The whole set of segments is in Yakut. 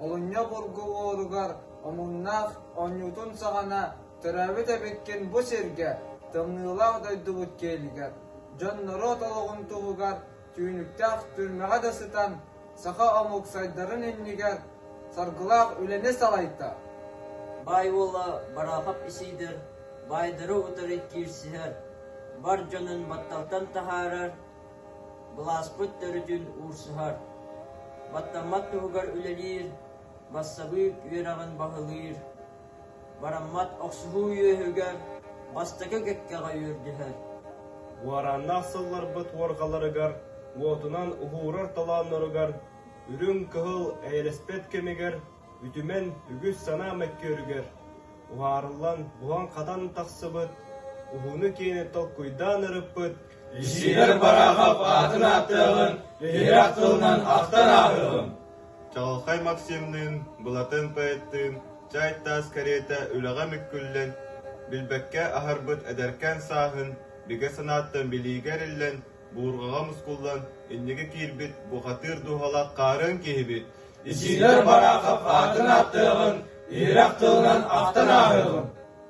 Олунньу бургулууругар омуннаах оонньуутун саҕана төрөөбүт эбиккин бу сиргэ, тымныылаах дойдубут киэлигэр, дьон норуот олоҕун туһугар түүнүктээх түрмэҕэ да сытан саха омук сайдарын иннигэр саргылаах үлэни салайда. Баай уола Барахов исийдэр, баайдары утары киирсиһэр, бар дьонун батталтан таһаарар, былааспыт төрүтүн уурсуһар. Баттаммат туһугар үлэлиир, бассабыык үөрэҕин баһылыыр, Бараммат охсуһуу үөһүгэр бастакы кэккэҕэ үөрдүһэр. Уорааннаах сылларбыт уоргаларыгар, уотунан уһуурар толоонноругар, үрүҥ кыһыл эйэлэспэт кэмигэр, үтүмэн үгүс санаа мөккүөрүгэр уһаарыллан буһан-хатан тахсыбыт, уһууну-киэни толкуйдаан ырыппыт Лишилэр Барахов аатын ааттыаҕын, тиһирэх тылынан ахтан ааһыаҕын. Чаҕылхай Максимныын, Былатын поэттыын чаай-таас кэриэтэ үлэҕэ мүккүллэн, билбэккэ аһарбыт эдэркээн сааһын бигэ санааттан билиигэ эриллэн, буурҕаҕа мускуллан инники киирбит бухатыыр дууһалаах хаарыан киһибит Исиидэр Бараахап аатын аттыаҕын, ирэх тылынан ахтан ааһыаҕын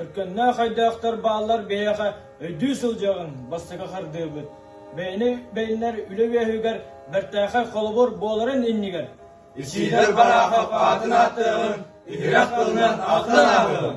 Өркөннөөх ойдоохтор бааллар бэйэҕэ өйдүү сылдьыаҕыҥ, бастакы хардыыбыт. Бэйэни бэйэннэр үлэ үөһүгэр бэртээхэй холобур буоларын иннигэр ичиилэр бараахап аатын ааттыаҕыҥ, иһирэх тылынан ааттан ааһыаҕыҥ.